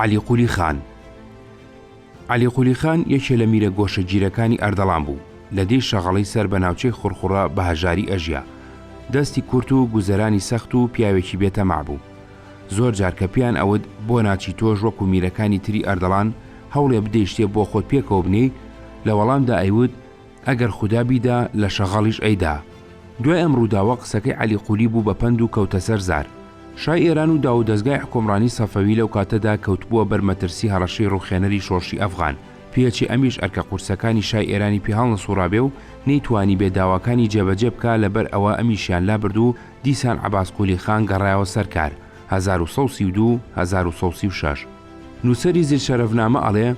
عەلی قولی خان عەلی قولی خان یەکێ لە میرە گۆشەگیرەکانی ئەردەڵان بوو، لە دێی شەغەڵی سەر بە ناوچەی خورخوڕە بە هەژاری ئەژیا. دەستی کورت و گوزەرانی سەخت و پیاوێکی بێ تەماع بوو. زۆر جار کە پێیان ئەوت بۆ ناچی تۆش وەکوو میرەکانی تری ئەردەڵان هەوڵێ بدەی شتێ بۆ خۆت پێکەوە بنێی، لە وەڵامدا ئەیوت ئەگەر خودا بیدا لە شەغەڵیش ئەیدا. دوای ئەم ڕووداوە قسەکەی عەلی قولی بوو بە پەند و کەوتە سەر زار. شای ئێران و داوودەزگای حکومڕانی سەفەوی لەو کاتەدا کەوتبووە بەر مەترسی هەڕەشەی ڕووخێنەری شۆڕشی ئەفغان، پێچێ ئەمیش ئەرکە قورسەکانی شای ئێرانی پێ هەڵنەسووڕابێ و نەیتوانیبێ داواکانی جێبەجێ بکا لەبەر ئەوە ئەمیشیان لابرد و دیسان عەباس قولی خان گەڕایەوە سەر کار، هەزار و سەد و سی و دوو، هەزار و سەد و سی و شەش. نووسەری زیلشەرەفنامە ئەڵێ.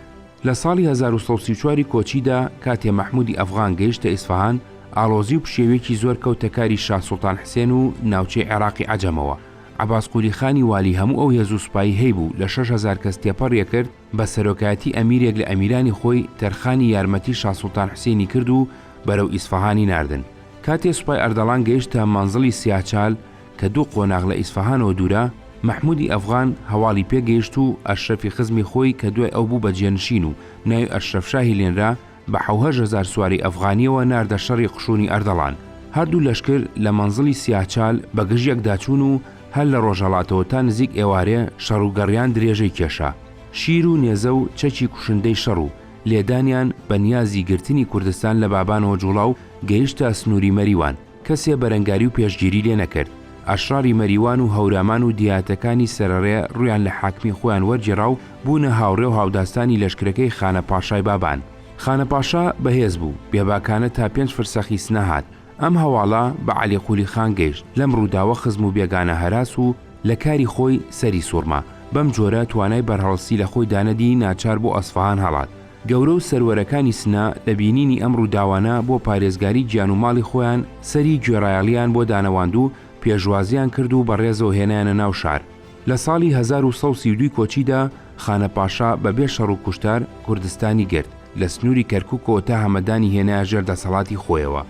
لە ساڵی هەزار و سەد و سی و چوار ی کۆچیدا کاتێ مەحموودی ئەفغان گەیشتە ئیسفەهان، ئاڵۆزی و پشێوییەکی زۆر کەوتە کاری شا سوڵتان حسێن و ناوچەی عێراقی عەجەمەوە. عەباس قولی خانی والی هەموو ئەو هێز و سوپای هەیبوو لە شەش هەزار کەس تێپەڕیە کرد، بە سەرۆکایەتی ئەمیرێک لە ئەمیرانی خۆی تەرخانی یارمەتی شا سوڵتان حسێنی کرد و بەرەو ئیسفەهانی ناردن. کاتێ سوپای ئەردەڵان گەیشتە مەنزڵی سیاچال، کە دوو قۆناغ لە ئیسفەهانەوە دوورە، مەحموودی ئەفغان هەواڵی پێ گەیشت و ئەشرەفی خزمی خۆی کە دوای ئەو بوو بە جێنشین و ناوی ئەشرەف شاهی لێنرا، بە حەوهەشت هەزار سواری ئەفغانییەوە ناردە شەڕی قشوونی ئەردەڵان. هەردوو لەشکر لە مەنزڵی سیاهچال بە گژ یەکدا چوون و هەر لە ڕۆژهەڵاتەوە تا نزیک ئێوارێ شەڕ و گەڕیان درێژەی کێشا. شیر و نێزە و چەکی کوشندەی شەڕ و لێدانیان بە نیازی گرتنی کوردستان لە بابانەوە جووڵا و گەیشتە سنووری مەریوان. کەسێ بەرەنگاری و پێشگیری لێ نەکرد. ئەشراری مەریوان و هەورامان و دیهاتەکانی سەرەڕێ ڕوویان لە حاکمی خۆیان وەرگێڕا و بوونە هاوڕێ و هاوداستانی لەشکرەکەی خانە پاشای بابان. خانە پاشا بەهێز بوو، بێباکانە تا پێنج فرسەخی سنە هات. ئەم هەواڵە بە عەلی قولی خان گەیشت، لەم ڕووداوە خزم و بێگانە هەراس و لە کاری خۆی سەری سووڕما، بەم جۆرە توانای بەرهەڵستی لە خۆی دانەدی ناچار بوو ئەسفەهان هەڵات. گەورە و سەروەرەکانی سنە لە بینینی ئەم ڕووداوانە بۆ پارێزگاری گیان و ماڵی خۆیان سەری گوێڕایەڵییان بۆ دانەواند و پێشوازییان کرد و بە ڕێزەوە هێنایانە ناو شار. لە ساڵی هەزار و سەد و سی و دوو کۆچیدا خانە پاشا بە بێ شەڕ و کوشتار کوردستانی گرت، لە سنووری کەرکووکەوە تا هەمەدانی هێنایە ژێر دەسەڵاتی خۆیەوە.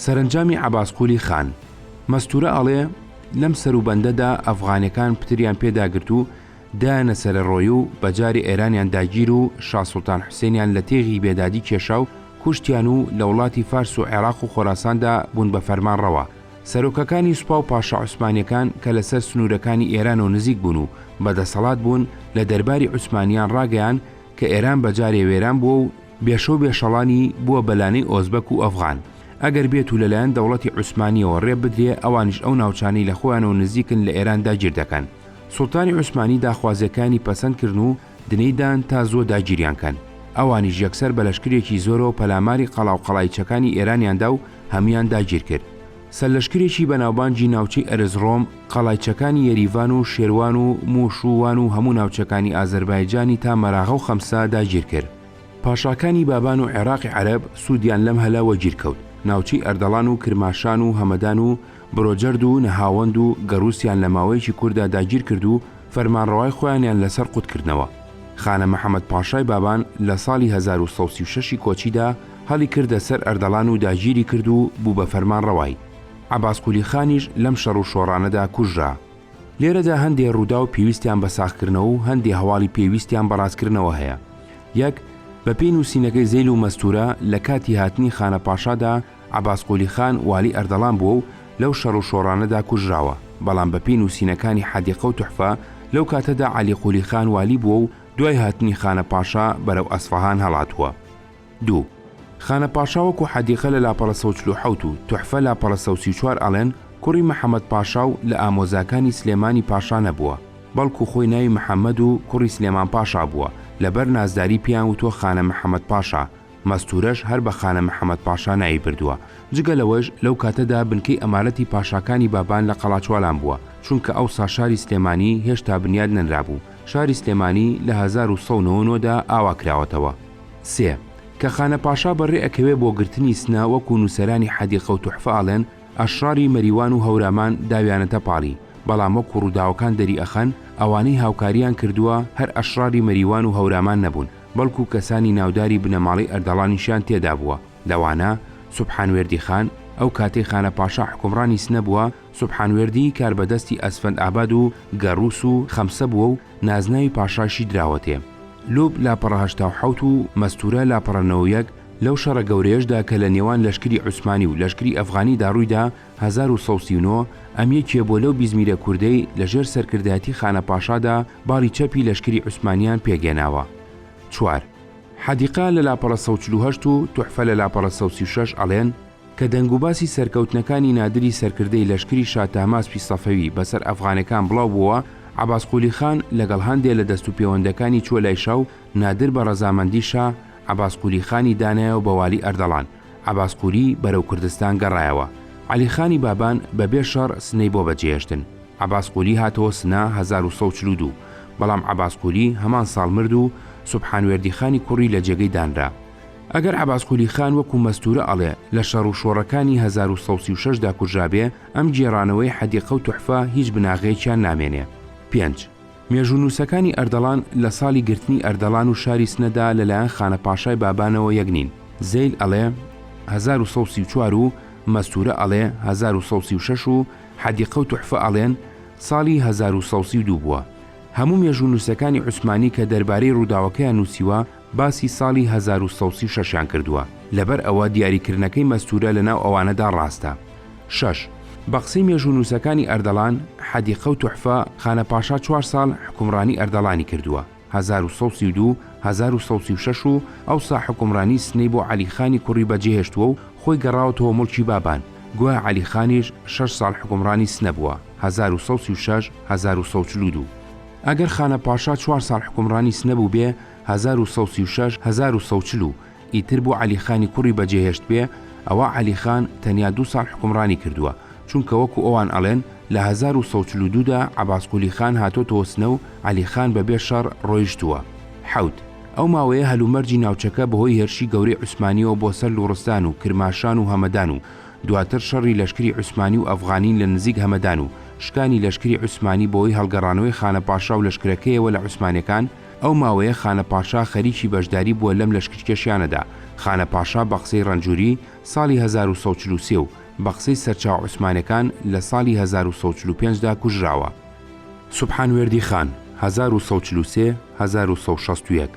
سەرەنجامی عەباسقولی خان. مەستوورە ئەڵێ، لەم سەروبەندەدا ئەفغانەکان پتریان پێ داگرت و دایانە سەرەڕۆی و بە جارێ ئێرانیان داگیر و شا سوڵتان حوسێنیان لە تیغی بێدادی کێشا و کوشتیان و لە وڵاتی فارس و عێراق و خۆراساندا بوون بە فەرمانڕەوا سەرۆکەکانی سوپا و پاشا عوسمانیەکان کە لە سەر سنوورەکانی ئێرانەوە نزیک بوون و بە دەسەڵات بوون لە دەرباری عوسمانیان ڕاگەیان کە ئێران بە جارێ وێران بووە و بێشە و بێشەڵانی بووە بە لانەی ئۆزبەک و ئەفغان ئەگەر بێت و لە لایەن دەوڵەتی عوسمانیەوە ڕێ بدرێ ئەوانیش ئەو ناوچانەی لە خۆیانەوە نزیکن لە ئێران داگیر دەکەن. سوڵتانی عوسمانی داخوازیەکانی پەسەند کردن و دنەی دان تا زووە داگیریان کەن، ئەوانیش یەکسەر بە لەشکرێکی زۆرەوە پەلاماری قەڵاو قەڵایچەکانی ئێرانیان دا و هەموویان داگیر کرد. سەرلەشکرێکی بەناوبانگی ناوچەی ئەرزڕۆم، قەڵایچەکانی یەریڤان و شێروان و مووش و وان و هەموو ناوچەکانی ئازەربایجانی تا مەراغە و خەمسە داگیر کرد. پاشاکانی بابان و عێڕاقی عەرەب سوودیان لەم هەلە وەگیر کەوت، ناوچەی ئەردەڵان و کرماشان و هەمەدان و، برۆ جەرد و نەهاوەند و گەرووسیان لە ماوەیەکی کورتدا داگیر کرد و فەرمانڕەوای خۆیانیان لەسەر قوت کردنەوە. خانە مەحەمەد پاشای بابان لە ساڵی هەزار و سەد و سی و شەش ی کۆچیدا هەڵی کردە سەر ئەردەڵان و داگیری کرد و بوو بە فەرمانڕەوای. عەباس قولی خانیش لەم شەڕ و شۆڕانەدا کوژرا. لێرەدا هەندێ ڕووداو پێویستیان بە ساغکردنەوە و هەندێ هەواڵی پێویستیان بە ڕاستکردنەوە هەیە. یەک، بەپێی نووسینەکەی زەیل و مەستوورە لە کاتی هاتنی خانە پاشادا، عەباس قولی خان والی ئەردەڵان بووە و لەو شەڕ و شۆڕانەدا کوژراوە، بەڵام بەپێی نووسینەکانی حەدیقە و تحفە لەو کاتەدا عەلی قولی خان والی بووە و دوای هاتنی خانە پاشا بەرەو ئەسفەهان هەڵاتووە. دوو. خانە پاشا وەکو حەدیقە لە لاپەڕە سەو چل و حەوت و تحفە لاپەڕە سەو سی و چوار ئەڵێن کوڕی محەمەد پاشا و لە ئامۆزاکانی سلێمانی پاشا نەبووە، بەڵکو خۆی ناوی محەمەد و کوڕی سلێمان پاشا بووە، لەبەر نازداری پێیان وتووە خانە محەمەد پاشا، مەستوورەش هەر بە خانە محەمەد پاشا ناوی بردووە، جگە لەوەش لەو کاتەدا بنکەی ئەمارەتی پاشاکانی بابان لە قەڵاچوالان بووە، چونکە ئەوسا شاری سلێمانی هێشتا بنیاد نەنرابوو، شاری سلێمانی لە هەزار و سەد و نەوەد و نۆ دا ئاوا کراوەتەوە. سێ. کە خانە پاشا بە رێ ئەکەوێ بۆ گرتنی سنە وەکوو نووسەرانی حەدیقە و توحفە ئەڵێن، ئەشراری مەریوان و هەورامان داویانەتە پاڵی، بەڵام وەکوو رووداوەکان دەری ئەخەن، ئەوانەی هاوکارییان کردووە هەر ئەشراری مەریوان و هەورامان نەبوون، بەڵکو کەسانی ناوداری بنەماڵەی ئەردەڵانیشیان تێدا بووە، لەوانە، سوبحانوێردی خان، ئەو کاتەی خانە پاشا حوکمڕانی سنە بووە، سوبحانوێردی کاربەدەستی ئەسفەند ئاباد و گەڕووس و خەمسە بووە و نازناوی پاشایشی دراوەتێ. لوب لاپەڕە هەشتا و حەوت و مەستوورە لاپەڕە نۆ و یەک، لەو شەڕە گەورەیەشدا کە لە نێوان لەشکری عوسمانی و لەشکری ئەفغانیدا ڕوویدا، هەزار و سەد و سی و نۆ، ئەم یەکیە بۆ لەو بیزمیرە کوردەی لە ژێر سەرکردایەتی خانە پاشادا باڵی چەپی لەشکری عوسمانیان پێکهێناوە. چوار. حدیقە لە لاپەڕە سەد و چل و هەشت و تحفە لە لاپەڕە سەد و سی و شەش ئەڵێن، کە دەنگوباسی سەرکەوتنەکانی نادری سەرکردەی لەشکری شا تەهماسپی سەفەوی بەسەر ئەفغانەکان بڵاو بۆوە، عەباس قولی خان لەگەڵ هەندێ لە دەست و پێوەندەکانی چووە لای شا و نادر بە ڕەزامەندی شا، عەباس قولی خانی دانایەوە بە والی ئەردەڵان. عەباس قوری بەرەو کوردستان گەڕایەوە. عەلی خانی بابان بە بێ شەڕ سنەی بۆ بەجێهێشتن. عەباس قوری هاتەوە سنە هەزار و سەد و چل و دوو. بەڵام عەباس قوری هەمان ساڵ مرد و سوبحان وێردی خانی کوڕی لە جێگەی دانرا. ئەگەر عەباس قولی خان وەکو مەستورە ئەڵێ لە شەڕ و شۆڕەکانی هەزار و سەد و سی و شەش دا کوژرابێ، ئەم گێڕانەوەی حەدیقە و توحفە هیچ بناغەیەکیان نامێنێ. پێنج. مێژوونووسەکانی ئەردەڵان لە ساڵی گرتنی ئەردەڵان و شاری سنەدا لە لایەن خانە پاشای بابانەوە یەک نین، زەیل ئەڵێ، هەزار و سەد و سی و چوار، و، مەستوورە، ئەڵێ، هەزار و سەد و سی و شەش، و، حەدیقە، و، توحفە، ئەڵێن، ساڵی هەزار و سەد و سی و دوو بووە. هەموو مێژوونووسەکانی عوسمانی کە دەربارەی ڕووداوەکەیان نووسیوە، باسی ساڵی هەزار و سەد و سی و شەش یان کردووە، لەبەر ئەوە دیاریکردنەکەی مەستوورە لەناو ئەوانەدا ڕاستە. شەش، بە قسەی مێژوونووسەکانی ئەردەڵان، حەدیقە و توحفە، خانە پاشا چوار ساڵ حوکمڕانی ئەردەڵانی کردووە، هەزار و سەد و سی و دوو، هەزار و سەد و سی و شەش و ئەوسا حوکمڕانی سنەی بۆ عەلی خانی کوڕی بەجێهێشتووە و خۆی گەڕاوەتەوە موڵکی بابان، گوایە عەلی خانیش شەش ساڵ حوکمڕانی سنە بووە، هەزار و سەد و سی و شەش، هەزار و سەد و چل و دوو. ئەگەر خانە پاشا چوار ساڵ حکومڕانیس نەبووبێ، هەزار و سەد و سی و شەش، هەزار و سەد و چل و، ئیتر بۆ عەلی خانی کوڕی بەجێهێشتبێ، ئەوا عەلی خان تەنیا دوو ساڵ حکومڕانی کردووە، چونکە وەکو ئەوان ئەڵێن، لە هەزار و سەد و چل و دوو دا عەباس قولی خان هاتۆتەوە سنە و عەلی خان بە بێ شەڕ ڕۆیشتووە. حەوت. ئەو ماوەیە هەلومەرجی ناوچەکە بەهۆی هێرشی گەورەی عوسمانییەوە بۆ سەر لوڕستان و کرماشان و هەمەدان و، دواتر شەڕی لەشکری عوسمانی و ئەفغانین لە نزیک هەمەدان و شکانی لەشکری عوسمانی بەوەی هەڵگەڕانەوەی خانە پاشا و لەشکرەکەیەوە لە عوسمانەکان، ئەو ماوەیە خانە پاشا خەریکی بەشداری بووە لەم لەشکرکێشیانەدا، خانە پاشا بە قسەی رەنجوری ساڵی هەزار و سەد و چل و سێ و بە قسەی سەرچاوە عوسمانەکان لە ساڵی هەزار و سەد و چل و پێنج دا کوژراوە. سوبحان وێردی خان، هەزار و سەد و چل و سێ، هەزار و سەد و شەست و یەک.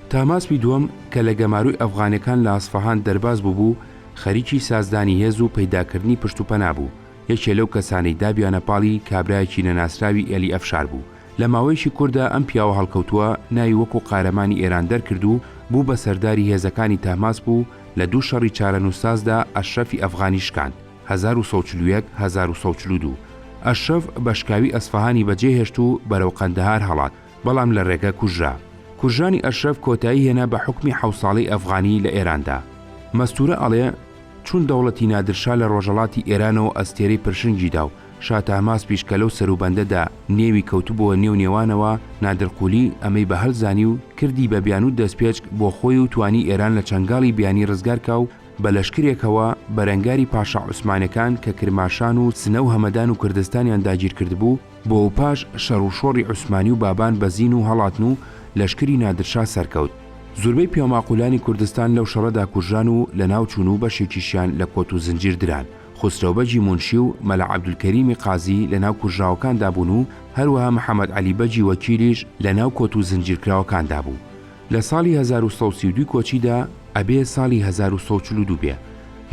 تاماسبی دووەم کە لە گەماروی ئەفغانەکان لە ئەسفەهان دەرباز بووبوو، خەریکی سازدانی هێز و پەیداکردنی پشت و پەنا بوو، یەکێ لەو کەسانەی دابیانە پاڵی کابرایەکی نەناسراوی ئێلی ئەفشار بوو، لە ماوەیەکی کورتدا ئەم پیاوە هەڵکەوتووە ناوی وەکو قارەمانی ئێران دەرکرد و بوو بە سەرداری هێزەکانی تەهماسپ و لە دوو شەڕی چارەنووسسازدا ئەشرەفی ئەفغانی شکاند، هەزار و سەد و چل و یەک، هەزار و سەد و چل و دوو. ئەشرەف بە شکاوی ئەسفەهانی بەجێهێشت و بەرەو قەندەهار هەڵات، بەڵام لە رێگە کوژرا. کوژرانی ئەشرەف کۆتایی هێنا بە حوکمی حەوت ساڵەی ئەفغانیی لە ئێراندا. مەستوورە ئەڵێ، چون دەوڵەتی نادرشا لە رۆژەڵاتی ئێرانەوە ئەستێرەی پرشنگی دا و شا تاهماسپیش کە لەو سەروبەندەدا نێوی کەوتبووە نێو نێوانەوە، نادرقولی ئەمەی بە هەل زانی و کردی بە بیانوو دەسپێچک بۆ خۆی و توانی ئێران لە چەنگاڵی بیانی رزگار کا و بە لەشکرێکەوە بەرەنگاری پاشا عوسمانەکان کە کرماشان و سنە و هەمەدان و کردستانیان داگیر کردبوو، بۆ و پاش شەڕ و شۆڕی عوسمانی و بابان بەزین و هەڵاتن و لەشکری نادرشا سەرکەوت. زوربەی پیاوماقولانی کوردستان لەو شەڕەدا کوژران و لەناو چوون و بەشێکیشیان لە کۆت و زنجیر دران. خوسرەو بەگی مونشی و مەلا عەبدولکەریمی قازی لەناو کوژراوەکاندا بوون و هەروەها محەمەد عەلی بەگی وەکیلیش لەناو کۆت و زنجیرکراوەکاندا بوو. لە ساڵی هەزار و سەد و سی و دوو کۆچی دا، ئەبێ ساڵی هەزار و سەد و چل و دوو بێ،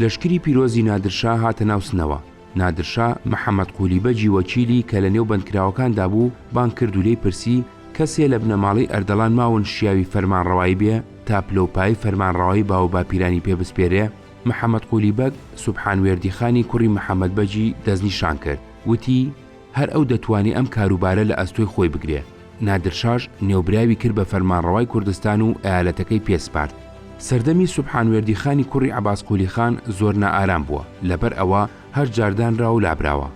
لەشکری پیرۆزی نادرشا هاتە ناو سنەوە. نادرشا محەمەد قولیبەگی وەکیلی کە لە نێو بەندکراوەکاندا بوو، بانگ کرد و لێی پرسی، کەسێ لە بنەماڵەی ئەردەڵان ماون شیاوی فەرمانڕەوایی بێ تا پلە و پایەی فەرمانڕەوایی باووباپیرانی پێ بسپێرێ؟ محەمەد قولیبەگ، سوبحان وێردیخانی کوڕی محەمەدبەگی دەستنیشان کرد، وتی، هەر ئەو دەتوانێ ئەم کاروبارە لە ئەستۆی خۆی بگرێ. نادرشاش نێوبراوی کرد بە فەرمانڕەوای کوردستان و ئەیالەتەکەی پێ سپارد. سەردەمی سوبحان وێردیخانی کوڕی عەباس قولیخان زۆر نائارام بووە، لەبەر ئەوە هەر جار دانراو لابراوە.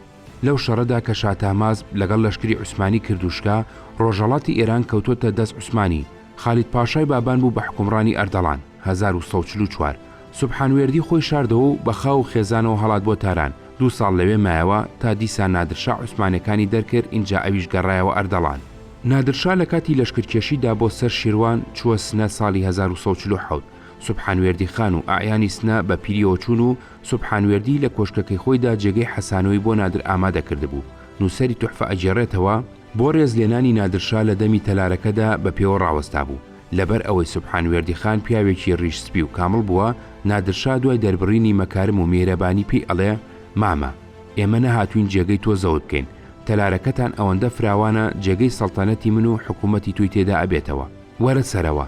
لەو شەڕەدا کە شا تاهماسب لەگەڵ لەشکری عوسمانی کرد و شکا، ڕۆژهەڵاتی ئێران کەوتۆتە دەس عوسمانی، خالید پاشای بابان بوو بە حوکمڕانی ئەردەڵان. هەزار و سەد و چل و چوار سوبحان وێردی خۆی شاردەوە و بە خاو و خێزانەوە هەڵات بۆ تاران، دوو ساڵ لەوێ مایەوە تا دیسان نادرشا عوسمانیەکانی دەرکرد ئینجا ئەویش گەڕایەوە ئەردەڵان. نادرشا لە کاتی لەشکرکێشی دا بۆ سەر شیروان چووە سنە ساڵی هەزار و سەد و چل و حەوت سوبحان وێردی خان و ئەعیانی سنە بە پیریەوە چوون و سوبحان وێردی لە کۆشکەکەی خۆی دا جێگەی حەسانەوەی بۆ نادر ئامادە کردبوو نووسەری توحفە ئەگێڕێتەوە بۆ رێزلێنانی نادرشا لە دەمی تەلارەکەدا بە پێوە راوەستابوو. لەبەر ئەوەی سوبحان وێردیخان پیاوێکی ریش سپی و کامڵ بووە، نادرشا دوای دەربڕینی مەکارم و میهرەبانی پێی ئەڵێ، مامە! ئێمە نەهاتووین جێگەی تۆ زەوت بکەین، تەلارەکەتان ئەوەندە فراوانە جێگەی سەڵتەنەتی من و حکوومەتی تۆی تێدا ئەبێتەوە. وەرە سەرەوە.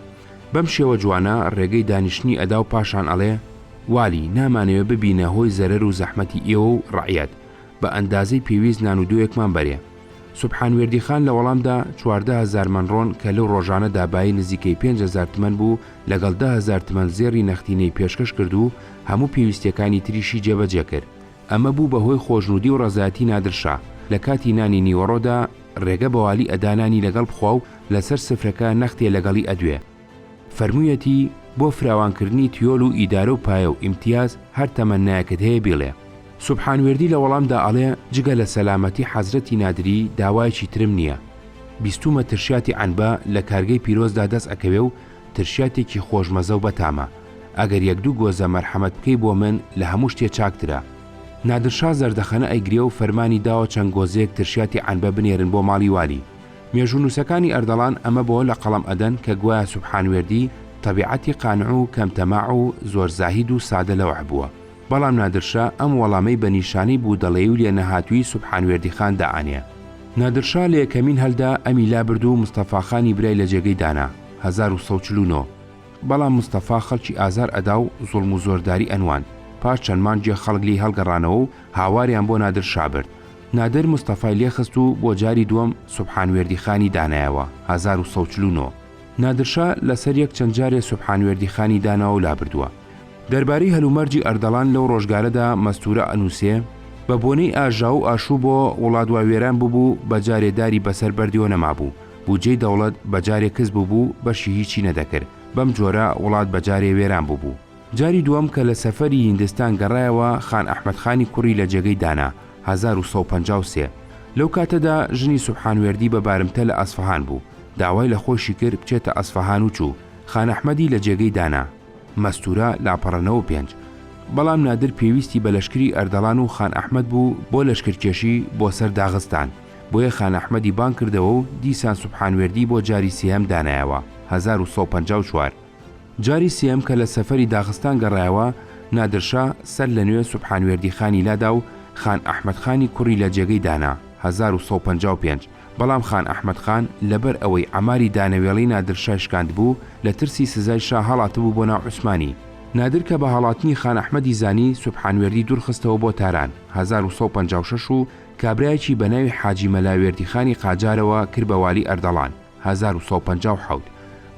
بەم شێوە جوانە رێگەی دانیشتنی ئەدا و پاشان ئەڵێ، والی، نامانەوێ ببینە هۆی زەرەر و زەحمەتی ئێوە و رەعیەت، بە ئەندازەی پێویست نان و دۆیەکمان بەرێ. سوبحان وێردیخان لە وەڵامدا، چواردە هەزار مەنڕۆن کە لەو ڕۆژانەدا بایی نزیکەی پێنج هەزار تمەن بوو، لەگەڵ دە هەزار تمەن زێڕی نەختینەی پێشکەش کرد و هەموو پێویستییەکانی تریشی جێبەجێ کرد. ئەمە بوو بە هۆی خۆشنوودی و ڕەزایەتی نادر شا. لە کاتی نانی نیوەڕۆدا، ڕێگە بە والی ئەدا نانی لەگەڵ بخوا و لەسەر سفرەکە نەختێ لەگەڵی ئەدوێ. فەرموویەتی، بۆ فراوانکردنی تیۆل و ئیدارە و پایە و ئیمتیاز هەر تەمەننایەکت هەیە بیڵێ. سوبحانوێردی لە وەڵامدا ئەڵێ، جگە لە سەلامەتی حەزرەتی نادری داوایەکی ترم نییە. بیستوومە ترشیاتی عەنبە لە کارگەی پیرۆزدا دەست ئەکەوێ و ترشیاتێکی خۆشمەزە و بەتامە. ئەگەر یەک دوو گۆزە مەرحەمەت بکەی بۆ من لە هەموو شتێ چاکترە. نادرشا زەردەخەنە ئەیگرێ و فەرمانی داوە چەند گۆزەیەک ترشیاتی عەنبە بنێرن بۆ ماڵی والی. مێژوونووسەکانی ئەردەڵان ئەمە بۆ لە قەڵەم ئەدەن کە گوایە سوبحانوێردی تەبیعەتی قانع و کەم تەماع و زۆر زاهید و سادە لەوح بووە، بەڵام نادرشا ئەم وەڵامەی بە نیشانەی بوودەڵەیی و لێنەهاتوویی سوبحانوێردیخان دائەنێ. نادرشا لە یەکەمین هەلدا ئەمی لابرد و مستەفاخانی برای لە جێگەی دانا، هەزار و سەد و چل و نۆ، بەڵام مستەفا خەڵکی ئازار ئەدا و زوڵم و زۆرداری ئەنواند، پاش چەند مانگێ خەڵک لێی هەڵگەڕانەوە و هاواریان بۆ نادرشا برد، نادر مستەفای لێ خست و بۆ جاری دووەم سوبحان وێردی خانی دانایەوە هەزار و سەد و چل و نۆ. نادرشا لە سەر یەک چەند جارێ سوبحان وێردی خانی داناوە و لابردووە. دەربارەی هەلومەرجی ئەردەڵان لەو ڕۆژگارەدا مەستوورە ئەنووسێ، بە بۆنەی ئاژاو و ئاشوو بۆ وڵات وا وێران ببوو بە جارێ داری بە سەر بەردیەوە نەمابوو، بودجەی دەوڵەت بە جارێ کز ببوو بەشی هیچی نەدەکرد، بەم جۆرە وڵات بە جارێ وێران ببوو. جاری دووەم کە لە سەفەری هیندستان گەڕایەوە خان ئەحمەد خانی کوڕی لە جێگەی دانا، هەزار و سەد و پەنجا و سێ. لەو کاتەدا ژنی سوبحانوێردی بە بارمتە لە ئەسفەهان بوو، داوای لە خۆشی کرد بچێتە ئەسفەهان و چوو، خان ئەحمەدی لە جێگەی دانا، مەستوورە، لاپەڕە نەوە پێنج. بەڵام نادر پێویستی بە لەشکری ئەردەڵان و خان ئەحمەد بوو بۆ لەشکرکێشی بۆ سەر داغستان، بۆیە خان ئەحمەدی بانگ کردەوە و دیسان سوبحانوێردی بۆ جاری سێیەم دانایەوە، هەزار و سەد و پەنجا و چوار. جاری سێیەم کە لە سەفەری داغستان گەڕایەوە، نادر شا سەر لە نوێ سوبحان وێردی خانی لادا و خان ئەحمەد خانی کوڕی لە جێگەی دانا، هەزار و سەد و پەنجا و پێنج، بەڵام خان ئەحمەد خان لە بەر ئەوەی عەماری دانەوێڵەی نادر شای شکاندبوو، لە ترسی سزای شا هەڵاتبوو بۆ ناو عوسمانی. نادر کە بە هەڵاتنی خان ئەحمەدی زانی، سوبحان وێردی دوور خستەوە بۆ تاران، هەزار و سەد و پەنجا و شەش، و کابرایەکی بە ناوی حاجی مەلا وێردی خانی قاجارەوە کرد بە والی ئەردەڵان. هەزار و سەد و پەنجا و حەوت،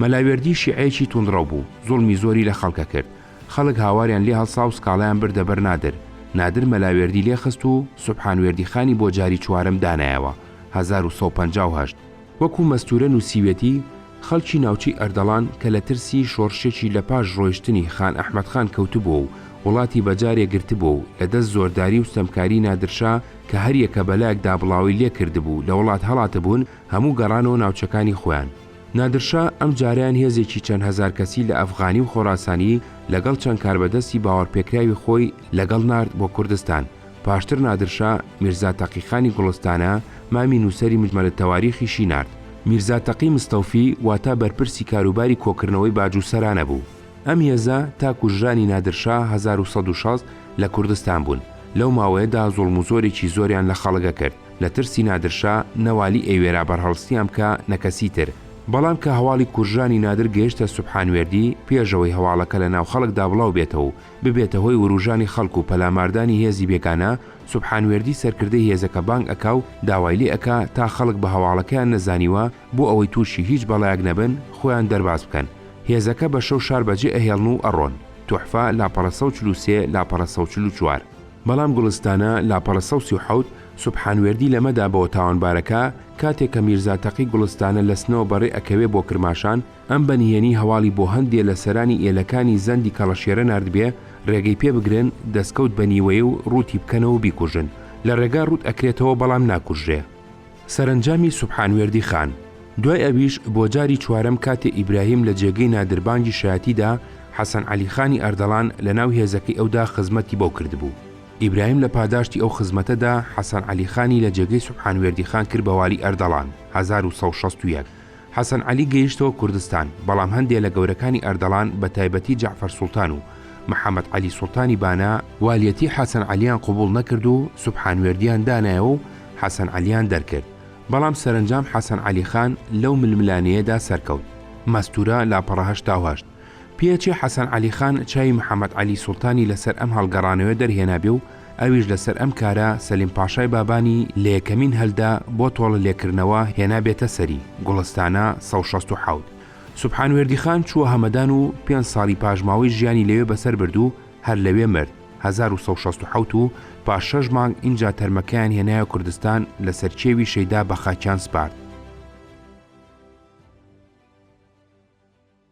مەلاوێردی شیعەیەکی توندڕەو بوو، زوڵمی زۆری لە خەڵکە کرد، خەڵک هاواریان لێ هەڵسا و سکاڵایان بردە بەر نادر، نادر مەلاوێردی لێ خست و سوبحانوێردی خانی بۆ جاری چوارەم دانایەوە، هەزار و سەد و پەنجا و هەشت. وەکوو مەستوورە نووسیوێتی، خەڵکی ناوچەی ئەردەڵان کە لە ترسی شۆڕشێکی لە پاش ڕۆیشتنی خان ئەحمەد خان کەوتبووە و وڵاتی بە جارێ گرتبووە و لە دەست زۆرداری و ستەمکاریی نادرشا کە هەر یەکە بەلایەک دابڵاوەی لێ کردبوو لە وڵات هەڵاتبوون هەموو گەڕانەوە ناوچەکانی خۆیان. نادرشا ئەم جارەیان هێزێکی چەند هەزار کەسی لە ئەفغانی و خۆراسانی لەگەڵ چەند کاربەدەستی باوەڕپێکراوی خۆی لەگەڵ نارد بۆ کوردستان. پاشتر نادرشا میرزا تەقی خانی گوڵستانە مامی نووسەری مجمل تواریخیشی نارد. میرزا تەقی مستەوفی واتە بەرپرسی کاروباری کۆکردنەوەی باج و سەرانە بوو. ئەم هێزە تا کوژرانی نادرشا هەزار و سەد و شەست لە کوردستان بوون. لەو ماوەیەدا زوڵم و زۆرێکی زۆریان لە خەڵک ئەکرد. لە ترسی نادر شا نەوالی ئەیوێرا بەرهەڵستیان بکا نە کەسی تر. بەڵام کە هەواڵی کوژرانی نادر گەیشتە سوبحانوێردی، پێشەوەی هەواڵەکە لە ناو خەڵکدا بڵاو بێتە و ببێتە هۆی وروژانی خەڵک و پەلاماردانی هێزی بێگانە، سوبحانوێردی سەرکردەی هێزەکە بانگ ئەکا و داوای لێ ئەکا تا خەڵک بە هەواڵەکەیان نەزانیوە بۆ ئەوەی تووشی هیچ بەڵایەک نەبن خۆیان دەرباز بکەن. هێزەکە بە شەو شار بەجێ ئەهێڵن و ئەڕۆن. تحفە، لاپەڕە سەد و چل و سێ، لاپەڕە سەد و چل و چوار. بەڵام گوڵستانە لاپەڕە سەد و سی و حەوت سوبحان وێردی لەمەدا بەوە تاوانبارەکا، کاتێ کە میرزا تەقی گوڵستانە لە سنەوە بەڕێ ئەکەوێ بۆ کرماشان، ئەم بە نهێنی هەواڵی بۆ هەندێ لە سەرانی ئێلەکانی زەندی کەڵەشێرە ناردبێ ڕێگەی پێ بگرن دەسکەوت بە نیوەیە و ڕووتی بکەنەوە و بیکوژن. لە ڕێگا ڕووت ئەکرێتەوە بەڵام ناکوژرێ. سەرەنجامی سوبحانوێردی خان. دوای ئەویش بۆ جاری چوارەم کاتێ ئیبراهیم لە جێگەی نادر بانگی شایەتی دا، حەسەن عەلی خانی ئەردەڵان لە ناو هێزەکەی ئەودا خزمەتی بەو کردبوو. ئیبراهیم لە پاداشتی ئەو خزمەتە دا، حەسەن عەلی خانی لە جێگەی سوبحانوێردی خان کرد بە والی ئەردەڵان، هەزار و سەد و شەست و یەک. حەسەن عەلی گەیشتەوە کوردستان، بەڵام هەندێ لە گەورەکانی ئەردەڵان بە تایبەتی جەعفەر سوڵتان و محەمەد عەلی سوڵتانی بانە، والیەتی حەسەن عەلیان قبوڵ نەکرد و سوبحانوێردیان دانایەوە و حەسەن عەلیان دەرکرد، بەڵام سەرەنجام حەسەن عەلی خان لەو ململانێیەدا سەرکەوت. مەستوورە، لاپەڕە هەشتا و هەشت. پێچێ حەسەن عەلی خان چاوی محەمەد عەلی سوڵتانی لەسەر ئەم هەڵگەڕانەوە دەرهێنابێ و ئەویش لەسەر ئەم کارە سەلیم پاشای بابانی لە یەکەمین هەلدا بۆ تۆڵە لێکردنەوە هێنابێتە سەری، گوڵستانە، سەد و شەست و حەوت. سوبحان وێردی خان چووە هەمەدان و پێنج ساڵی پاشماوەی ژیانی لەوێ بەسەر برد و هەر لەوێ مرد، هەزار و سەد و شەست و حەوت و پاش شەش مانگ ئینجا تەرمەکەیان هێنایە کوردستان لەسەر کێوی شەیدا بەخاکیان سپارد.